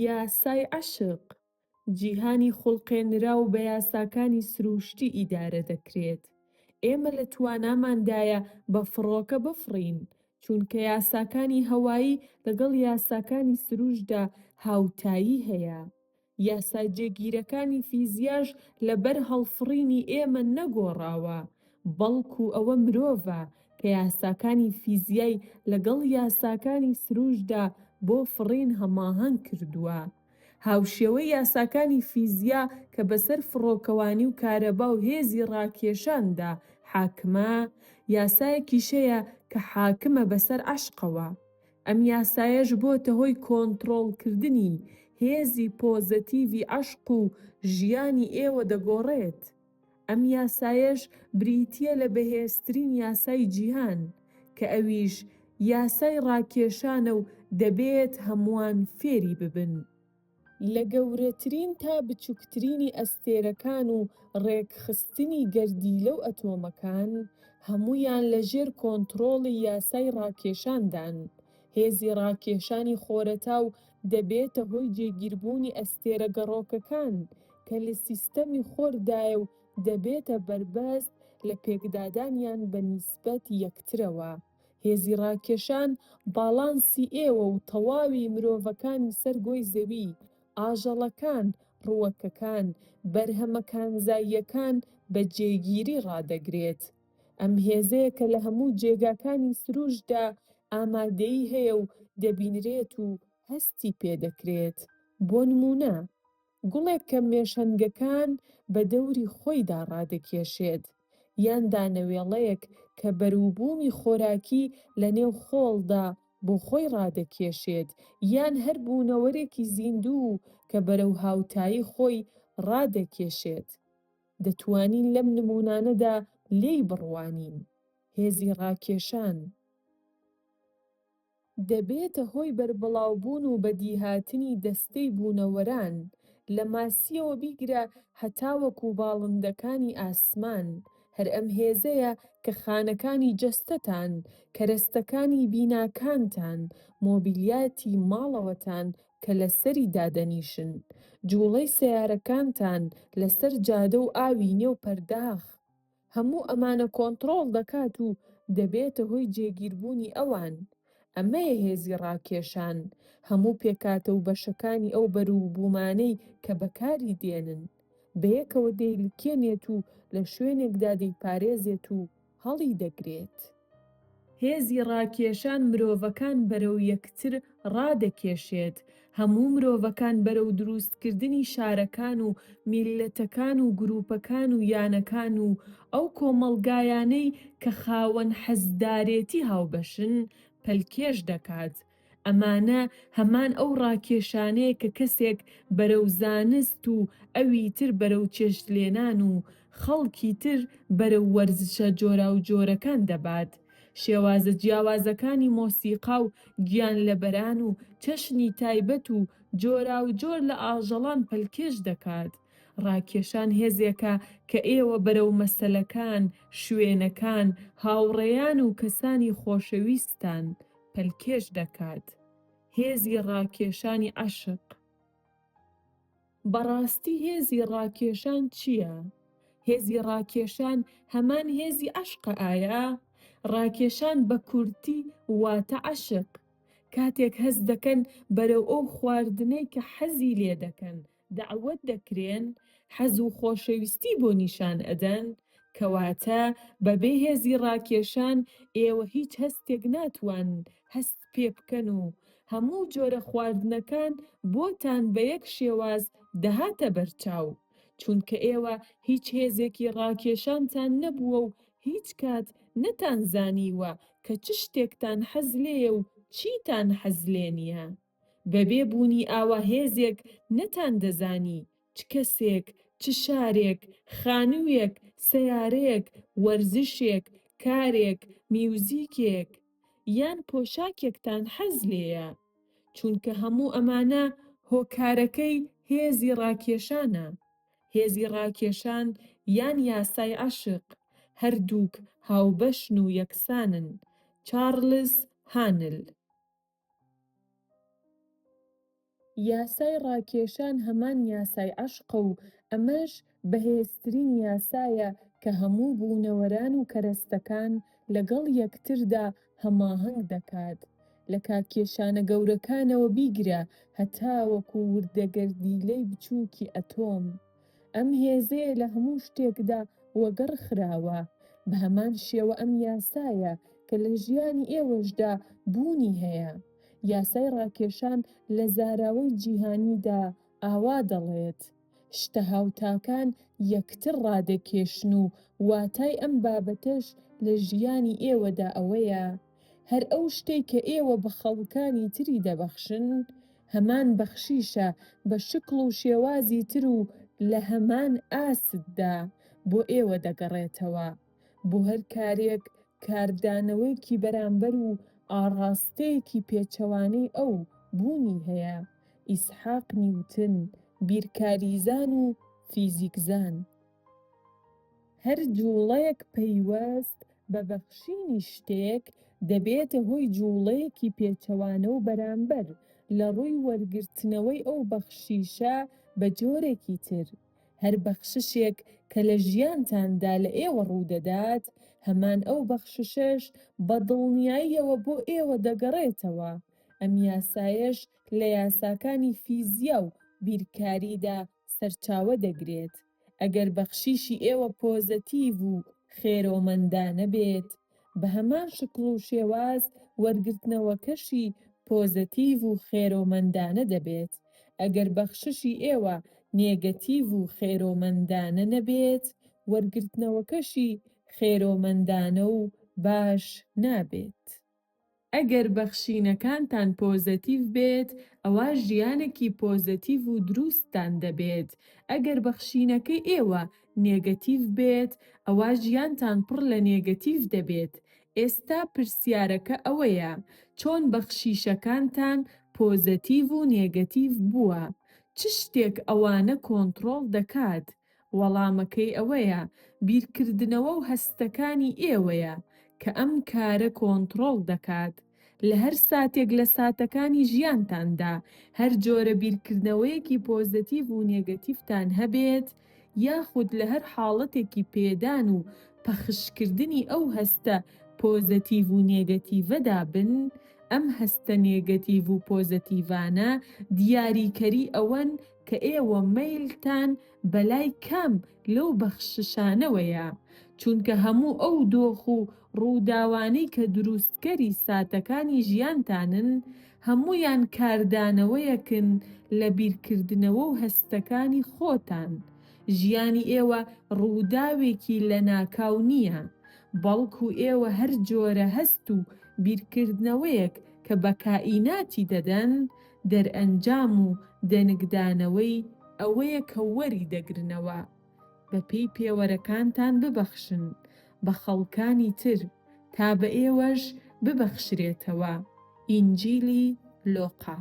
یاسای عەشق، جیهانی خوڵقێنراو بە یاساکانی سرووشتی ئیدارە دەکرێت، ئێمە لە تواناماندایە بە فڕۆکە بفڕین، چونکە یاساکانی هەوایی لەگەڵ یاساکانی سرووشتدا هاوتایی هەیە، یاسا جێگیرەکانی فیزیاش لە بەر هەڵفڕینی ئێمە نەگۆڕاوە، بەڵکو ئەوە مرۆڤە کە یاساکانی فیزیای لەگەڵ یاساکانی سروشتدا بۆ فڕین هەماهەنگ کردووە. هاوشێوەی یاساکانی فیزیا کە بەسەر فڕۆکەوانی و کارەبا و هێزی ڕاکێشاندا حاکمە، یاسایەکیش هەیە کە حاکمە بەسەر عەشقەوە. ئەم یاسایەش بۆتە هۆی کۆنتڕۆڵکردنی هێزی پۆزەتیڤی عەشق و ژیانی ئێوە دەگۆڕێت. ئەم یاسایەش بریتییە لە بەهێزترین یاسای جیهان، کە ئەویش یاسای ڕاکێشانە و دەبێت هەمووان فێری ببن. لە گەورەترین تا بچوکترینی ئەستێرەکان و ڕێکخستنی گەردیلە و ئەتۆمەکان، هەموویان لە ژێر کۆنتڕۆڵی یاسای ڕاکێشاندان. هێزی ڕاکێشانی خۆرەتاو دەبێتە هۆی جێگیربوونی ئەستێرە گەڕۆکەکان، کە لە سیستەمی خۆردایە و دەبێتە بەربەست لە پێکدادانیان بە نیسبەت یەکترەوە. هێزی ڕاکێشان باڵانسی ئێوە و تەواوی مرۆڤەکانی سەر گۆی زەوی، ئاژەڵەکان، ڕووەکەکان، بەرهەمە کانزاییەکان بە جێگیری ڕادەگرێت. ئەم هێزەیە کە لە هەموو جێگاکانی سرووشتدا ئامادەیی هەیە و دەبینرێت و هەستی پێدەکرێت. بۆ نموونە. گوڵێک کە مێشەنگەکان بە دەوری خۆیدا ڕادەکێشێت، یان دانەوێڵەیەک کە بەروبوومی خۆراکی لە نێو خۆڵدا بۆ خۆی ڕادەکێشێت، یان هەر بوونەوەرێکی زیندوو کە بەرەو هاوتایی خۆی ڕادەکێشێت. دەتوانین لەم نموونانەدا لێی بڕوانین. هێزی ڕاکێشان. دەبێتە هۆی بەربڵاوبوون و بەدیهاتنی دەستەی بوونەوەران، لە ماسییەوە بیگرە هەتاوەکو باڵندەکانی ئاسمان، هەر ئەم هێزەیە کە خانەکانی جەستەتان، کەرەستەکانی بیناکانتان، مۆبیلیاتی ماڵەوەتان کە لەسەری دادەنیشن، جوڵەی سەیارەکانتان لەسەر جادە و ئاوی نێو پەرداخ، هەموو ئەمانە کۆنتڕۆڵ دەکات و دەبێتە هۆی جێگیربوونی ئەوان. ئەمەیە هێزی ڕاکێشان، هەموو پێکهاتە و بەشەکانی ئەو بەروبوومانەی کە بەکاری دێنن، بەیەکەوە دەیلکێنێت و لە شوێنێکدا دەیپارێزێت و هەڵیدەگرێت. هێزی ڕاکێشان مرۆڤەکان بەرەو یەکتر ڕادەکێشێت، هەموو مرۆڤەکان بەرەو درووستکردنی شارەکان و میللەتەکان و گرووپەکان و یانەکان و ئەو کۆمەڵگایانەی کە خاوەن حەزدارێتی هاوبەشن، پەلکێش دەکات. ئەمانە هەمان ئەو ڕاکێشانەیە کە کەسێک بەرەو زانست و ئەوی تر بەرەو چێشتلێنان و خەڵکی تر بەرەو وەرزشە جۆراوجۆرەکان دەبات. شێوازە جیاوازەکانی مۆسیقا و گیانلەبەران و چەشنی تایبەت و جۆراوجۆر لە ئاژەڵان پەلکێش دەکات. ڕاکێشان هێزێکە کە ئێوە بەرەو مەسەلەکان، شوێنەکان، هاوڕێیان و کەسانی خۆشەویستتان پەلکێش دەکات، هێزی ڕاکێشانی عەشق. بەڕاستی هێزی ڕاکێشان چییە؟ هێزی ڕاکێشان هەمان هێزی عەشقە ئایا؟ ڕاکێشان بە کورتی واتە عەشق، کاتێک هەست دەکەن بەرەو ئەو خواردنەی کە حەزی لێ دەکەن، دەعوەت دەکرێن حەز و خۆشەویستی بۆ نیشان ئەدەن، کەواتە بەبێ هێزی ڕاکێشان ئێوە هیچ هەستێک ناتوانن هەست پێ بکەن و هەموو جۆرە خواردنەکان بۆتان بە یەک شێواز دەهاتە بەرچاو، چونکە ئێوە هیچ هێزێکی ڕاکێشانتان نەبووە و هیچ کات نەتانزانیوە کە چ شتێکتان حەز لێیە و چیتان حەز لێ نییە. بەبێ بوونی ئاوا هێزێک نەتان دەزانی چ کەسێک، چ شارێک، خانووێک، سەیارەیەک، وەرزشێک، کارێک، میوزیکێک، یان پۆشاکێکتان حەز لێیە. چونکە هەموو ئەمانە هۆکارەکەی هێزی ڕاکێشانە. هێزی ڕاکێشان یان یاسای عەشق، هەردووک هاوبەشن و یەکسانن، چارلز هانل. یاسای ڕاکێشان هەمان یاسای عەشقە و ئەمەش بەهێزترین یاسایە کە هەموو بوونەوەران و کەرەستەکان لەگەڵ یەکتردا هەماهەنگ دەکات، لە کاکێشانە گەورەکانەوە بیگرە هەتاوەکو وردەگەردیلەی بچووکی ئەتۆم. ئەم هێزەیە لە هەموو شتێکدا وەگەڕ خراوە، بە هەمان شێوە ئەم یاسایە کە لە ژیانی ئێوەشدا بوونی هەیە، یاسای ڕاکێشان لە زاراوەی جیهانیدا ئاوا دەڵێت، شتە هاوتاکان یەکتر ڕادەکێشن و واتای ئەم بابەتەش لە ژیانی ئێوەدا ئەوەیە، هەر ئەو شتەی کە ئێوە بە خەڵکانی تری دەبەخشن، هەمان بەخشیشە بە شکڵ و شێوازی تر و لە هەمان ئاستدا بۆ ئێوە دەگەڕێتەوە، بۆ هەر کارێک کاردانەوەیەکی بەرامبەر و ئاڕاستەیەکی پێچەوانەی ئەو بوونی هەیە، ئیسحاق نیوتن، بیرکاریزان و فیزیکزان. هەر جووڵەیەک پەیوەست بە بەخشینی شتێک دەبێتە هۆی جووڵەیەکی پێچەوانە و بەرامبەر، لە ڕووی وەرگرتنەوەی ئەو بەخشیشە بە جۆرێکی تر. هەر بەخششێک کە لە ژیانتاندا لە ئێوە ڕوو دەدات، هەمان ئەو بەخششەش بە دڵنیاییەوە بۆ ئێوە دەگەڕێتەوە. ئەم یاسایەش لە یاساکانی فیزیا و بیرکاریدا سەرچاوە دەگرێت، ئەگەر بەخشیشی ئێوە پۆزەتیڤ و خێرۆمەندانە بێت، بە هەمان شکڵ و شێواز وەرگرتنەوەکەشی پۆزەتیڤ و خێرۆمەندانە دەبێت، ئەگەر بەخششی ئێوە نێگەتیڤ و خێرۆمەندانە نەبێت، وەرگرتنەوەکەشی خێرۆمەندانە و باش نابێت. ئەگەر بەخشینەکانتان پۆزەتیڤ بێت ئەوا ژیانەکی پۆزەتیڤ و دروستتان دەبێت، ئەگەر بەخشینەکەی ئێوە نێگەتیڤ بێت ئەوا ژیانتان پڕ لە نێگەتیڤ دەبێت، ئێستا پرسیارەکە ئەوەیە چۆن بەخشیشەکانتان پۆزەتیڤ و نێگەتیڤ بووە؟ چ شتێک ئەوانە کۆنتڕۆڵ دەکات؟ وەڵامەکەی ئەوەیە بیرکردنەوە و هەستەکانی ئێوەیە کە ئەم کارە کۆنتڕۆڵ دەکات. لە هەر ساتێک لە ساتەکانی ژیانتاندا هەر جۆرە بیرکردنەوەیەکی پۆزەتیڤ و نێگەتیڤتان هەبێت، یاخود لە هەر حاڵەتێکی پێدان و پەخشکردنی ئەو هەستە پۆزەتیڤ و نێگەتیڤەدا بن، ئەم هەستە نێگەتیڤ و پۆزەتیڤانە دیاریکەری ئەوەن کە ئێوە مەیلتان بەلای کام لەو بەخششانەوەیە، چونکە هەموو ئەو دۆخ و ڕووداوانەی کە دروستکەری ساتەکانی ژیانتانن، هەموویان کاردانەوەیەکن لە بیرکردنەوە و هەستەکانی خۆتان، ژیانی ئێوە ڕووداوێکی لەناکاو نییە، بەڵکو ئێوە هەر جۆرە هەست و بیرکردنەوەیەک کە بە کائیناتی دەدەن، دەرئەنجام و دەنگدانەوەی ئەوەیە کە وەری دەگرنەوە. بە پێی پێوەرەکانتان ببەخشن بە خەڵکانی تر تا بە ئێوەش ببەخشرێتەوە ئینجیلی لۆقا.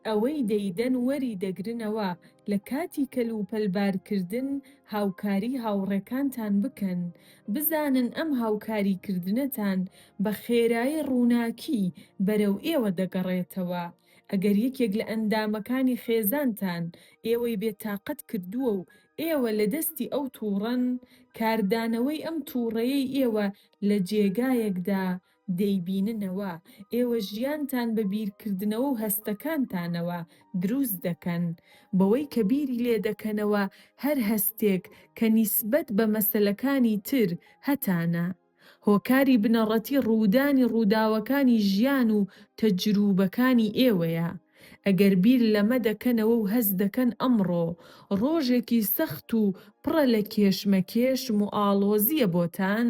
ئەوەی دەیدەن وەری دەگرنەوە لە کاتی کەلوپەل بارکردن هاوکاری هاوڕێکانتان بکەن بزانن ئەم هاوکاری کردنەتان بە خێرایی ڕووناکی بەرەو ئێوە دەگەڕێتەوە، ئەگەر یەکێک لە ئەندامەکانی خێزانتان ئێوەی بێ تاقەت کردووە و ئێوە لە دەستی ئەو تووڕەن، کاردانەوەی ئەم تووڕەیەی ئێوە لە جێگایەکدا دەیبیننەوە، ئێوە ژیانتان بە بیرکردنەوە و هەستەکانتانەوە دروست دەکەن، بەوەی کە بیری لێ دەکەنەوە، هەر هەستێک کە نیسبەت بە مەسەلەکانی تر هەتانە، هۆکاری بنەڕەتی ڕوودانی ڕووداوەکانی ژیان و تەجرووبەکانی ئێوەیە، ئەگەر بیر لەمە دەکەنەوە و هەست دەکەن ئەمڕۆ ڕۆژێکی سەخت و پڕە لە کێشمەکێش موئاڵۆزییە بۆتان،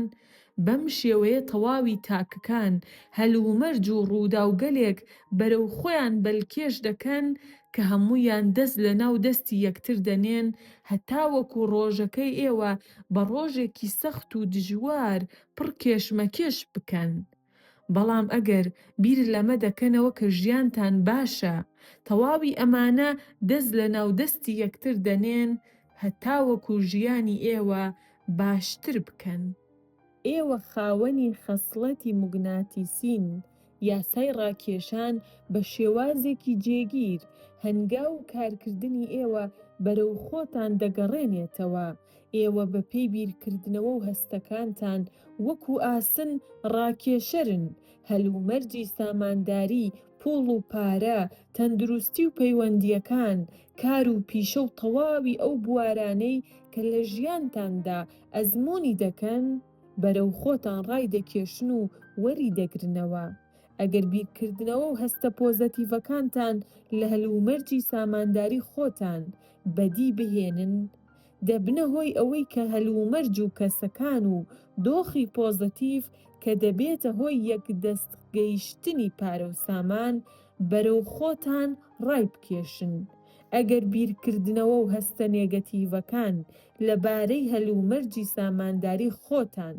بەم شێوەیە تەواوی تاکەکان هەلومەرج و ڕووداوگەلێک بەرەو خۆیان بەلکێش دەکەن کە هەموویان دەست لەناو دەستی یەکتر دەنێن هەتاوەکو ڕۆژەکەی ئێوە بە ڕۆژێکی سەخت و دژوار پڕ کێشمەکێش بکەن، بەڵام ئەگەر بیر لەمە دەکەنەوە کە ژیانتان باشە، تەواوی ئەمانە دەست لە ناو دەستی یەکتر دەنێن هەتاوەکو ژیانی ئێوە باشتر بکەن. ئێوە خاوەنی خەسڵەتی موگناتیسین یاسای ڕاکێشان بە شێوازێکی جێگیر، هەنگاو و کارکردنی ئێوە بەرەو خۆتان دەگەڕێنێتەوە، ئێوە بەپێی بیرکردنەوە و هەستەکانتان وەکو ئاسن ڕاکێشەرن، هەلومەرجی سامانداری، پوڵ و پارە، تەندروستی و پەیوەندییەکان، کار و پیشە و تەواوی ئەو بوارانەی کە لە ژیانتاندا ئەزموونی دەکەن، بەرەو خۆتان ڕایدەکێشن و وەری دەگرنەوە. ئەگەر بیرکردنەوە و هەستە پۆزەتیڤەکانتان لە هەلومەرجی سامانداری خۆتان بەدی بهێنن، دەبنە هۆی ئەوەی کە هەلومەرج و کەسەکان و دۆخی پۆزەتیڤ کە دەبێتە هۆی یەکدەست گەیشتنی پارە و سامان، بەرەو خۆتان ڕایبکێشن. ئەگەر بیرکردنەوە و هەستە نێگەتیڤەکان لەبارەی هەلومەرجی سامانداری خۆتان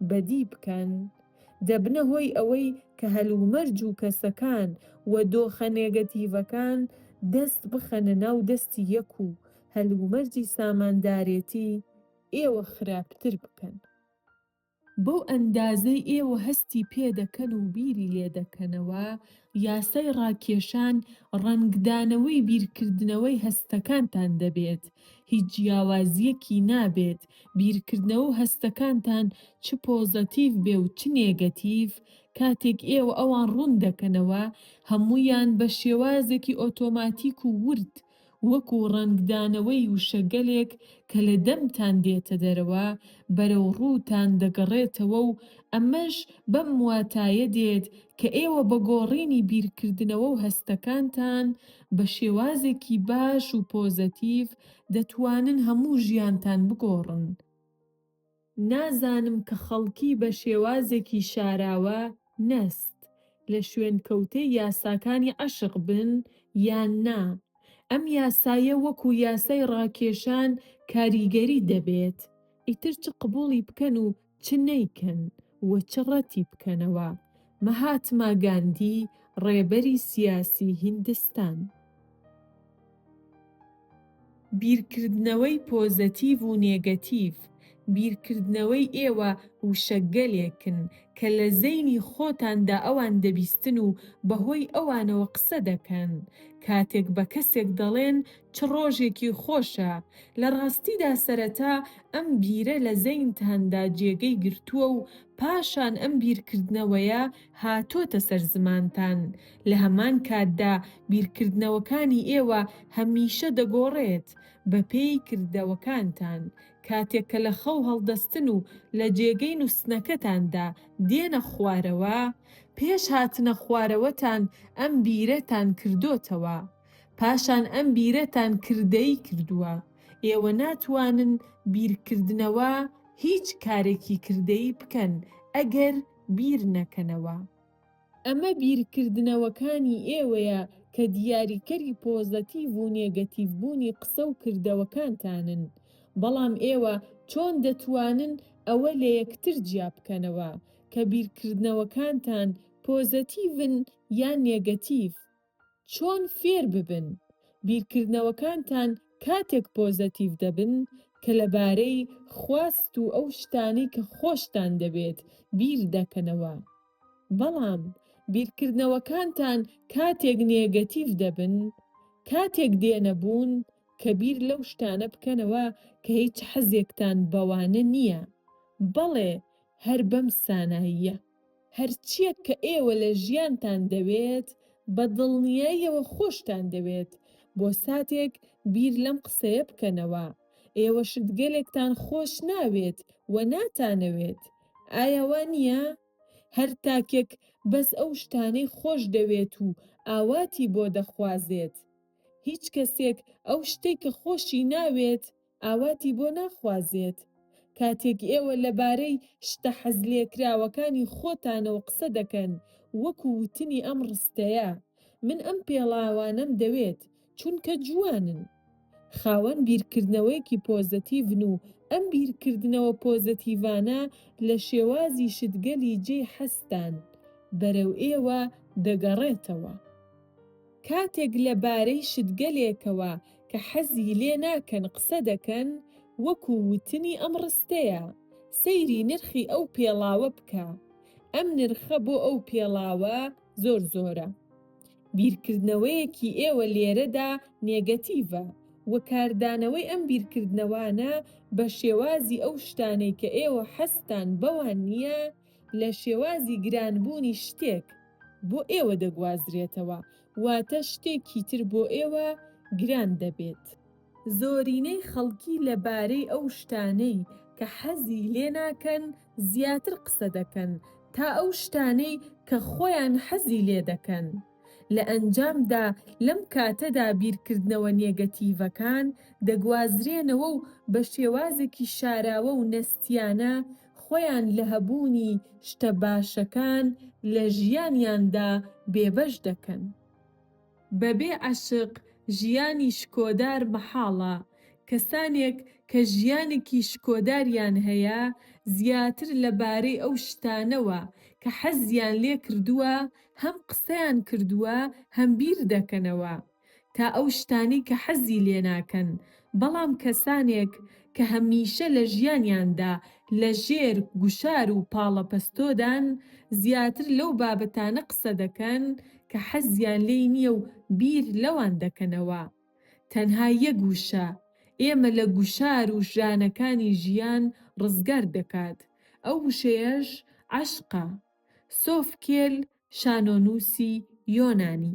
بەدی بکەن، دەبنە هۆی ئەوەی کە هەلومەرج و کەسەکان و دۆخە نێگەتیڤەکان دەست بخەنە ناو دەستی یەک و هەلومەرجی ساماندارێتی ئێوە خراپتر بکەن. بەو ئەندازەی ئێوە هەستی پێ دەکەن و بیری لێ دەکەنەوە، یاسای ڕاکێشان ڕەنگدانەوەی بیرکردنەوەی هەستەکانتان دەبێت، هیچ جیاوازییەکی نابێت، بیرکردنەوە و هەستەکانتان چ پۆزەتیڤ بێ و چ نێگەتیڤ، کاتێک ئێوە ئەوان ڕوون دەکەنەوە، هەموویان بە شێوازێکی ئۆتۆماتیک و ورد وەکو ڕەنگدانەوەی وشەگەلێک کە لە دەمتان دێتە دەرەوە، بەرەو ڕووتان دەگەڕێتەوە و ئەمەش بەم واتایە دێت کە ئێوە بە گۆڕینی بیرکردنەوە و هەستەکانتان بە شێوازێکی باش و پۆزەتیڤ دەتوانن هەموو ژیانتان بگۆڕن. نازانم کە خەڵکی بە شێوازێکی شاراوە نەست لە شوێنکەوتەی یاساکانی عەشق بن یان نا، ئەم یاسایە وەکو یاسای ڕاکێشان کاریگەری دەبێت، ئیتر چ قبوڵی بکەن و چ نەیکەن و چ ڕەتی بکەنەوە، مەهاتما گاندی ڕێبەری سیاسی هیندستان. بیرکردنەوەی پۆزەتیڤ و نێگەتیڤ، بیرکردنەوەی ئێوە وشەگەلێکن کە لە زەینی خۆتاندا ئەوان دەبیستن و بەهۆی ئەوانەوە قسە دەکەن. کاتێک بە کەسێک دەڵێن چ ڕۆژێکی خۆشە، لە ڕاستیدا سەرەتا ئەم بیرە لە زەینتاندا جێگەی گرتووە و پاشان ئەم بیرکردنەوەیە هاتۆتە سەر زمانتان، لە هەمان کاتدا بیرکردنەوەکانی ئێوە هەمیشە دەگۆڕێت بەپێی کردەوەکانتان، کاتێک کە لە خەو هەڵدەستن و لە جێگەی نوستنەکەتاندا دێنە خوارەوە، پێش هاتنە خوارەوەتان ئەم بیرەتان کردۆتەوە، پاشان ئەم بیرەتان کردەیی کردووە، ئێوە ناتوانن بیرکردنەوە هیچ کارێکی کردەیی بکەن ئەگەر بیرنەکەنەوە. ئەمە بیرکردنەوەکانی ئێوەیە کە دیاریکەری پۆزەتیڤ و نێگەتیڤ بوونی قسە و کردەوەکانتانن، بەڵام ئێوە چۆن دەتوانن ئەوە لە یەکتر جیا بکەنەوە کە بیرکردنەوەکانتان پۆزەتیڤن یان نێگەتیڤ؟ چۆن فێر ببن بیرکردنەوەکانتان کاتێک پۆزەتیڤ دەبن کە لەبارەی خواست و ئەو شتانەی کە خۆشتان دەوێت بیر دەکەنەوە بەڵام بیرکردنەوەکانتان کاتێک نێگەتیڤ دەبن کاتێک دێنە بوون کە بیر لەو شتانە بکەنەوە کە هیچ حەزێکتان بەوانە نییە بەڵێ هەر بەم ساناییە. هەرچییەک کە ئێوە لە ژیانتان دەوێت، بە دڵنیاییەوە خۆشتان دەوێت، بۆ ساتێک بیر لەم قسەیە بکەنەوە، ئێوە شتگەلێکتان خۆش ناوێت و ناتانەوێت، ئایا وا نییە؟ هەر تاکێک بەس ئەو شتانەی خۆش دەوێت و ئاواتی بۆ دەخوازێت. هیچ کەسێک ئەو شتەی کە خۆشی ناوێت، ئاواتی بۆ ناخوازێت؟ کاتێک ئێوە لەبارەی شتە حەزلێکراوەکانی خۆتانەوە قسە دەکەن، وەکو وتنی ئەم ڕستەیە، من ئەم پێڵاوانەم دەوێت، چونکە جوانن. خاوەن بیرکردنەوەیەکی پۆزەتیڤن و ئەم بیرکردنەوە پۆزەتیڤانە لە شێوازی شتگەلی جێی حەزتان، بەرەو ئێوە دەگەڕێتەوە. کاتێک لەبارەی شتگەلێکەوە کە حەزی لێ ناکەن قسە دەکەن وەکو وتنی ئەم ڕستەیە، سەیری نرخی ئەو پێڵاوە بکە، ئەم نرخە بۆ ئەو پێڵاوە زۆر زۆرە. بیرکردنەوەیەکی ئێوە لێرەدا نێگەتیڤە و کاردانەوەی ئەم بیرکردنەوانە بە شێوازی ئەو شتانەی کە ئێوە حەزتان بەوان نییە لە شێوازی گرانبوونی شتێک بۆ ئێوە دەگوازرێتەوە واتە شتێکی تر بۆ ئێوە گران دەبێت. زۆرینەی خەڵکی لە بارەی ئەو شتانەی کە حەزی لێ ناکەن زیاتر قسە دەکەن تا ئەو شتانەی کە خۆیان حەزی لێ دەکەن. لە ئەنجامدا لەم کاتەدا بیرکردنەوە نێگەتیڤەکان دەگوازرێنەوە و بە شێوازێکی شاراوە و نەستیانە خۆیان لە هەبوونی شتە باشەکان لە ژیانیاندا بێبەش دەکەن. بەبێ عەشق ژیانی شکۆدار مەحاڵە، کەسانێک کە ژیانێکی شکۆداریان هەیە زیاتر لە بارەی ئەو شتانەوە کە حەزیان لێکردووە هەم قسەیان کردووە هەم بیردەکەنەوە، تا ئەو شتانەی کە حەزی لێناکەن، بەڵام کەسانێک کە هەمیشە لە ژیانیاندا لەژێر گوشار و پاڵەپەستۆدان، زیاتر لەو بابەتانە قسە دەکەن کە حەزیان لێی نییە و بیر لەوان دەکەنەوە. تەنها یەک وشە، ئێمە لە گوشار و ژانەکانی ژیان ڕزگار دەکات، ئەو وشەیەش عەشقە. سۆفکێل، شانۆنووسی یۆنانی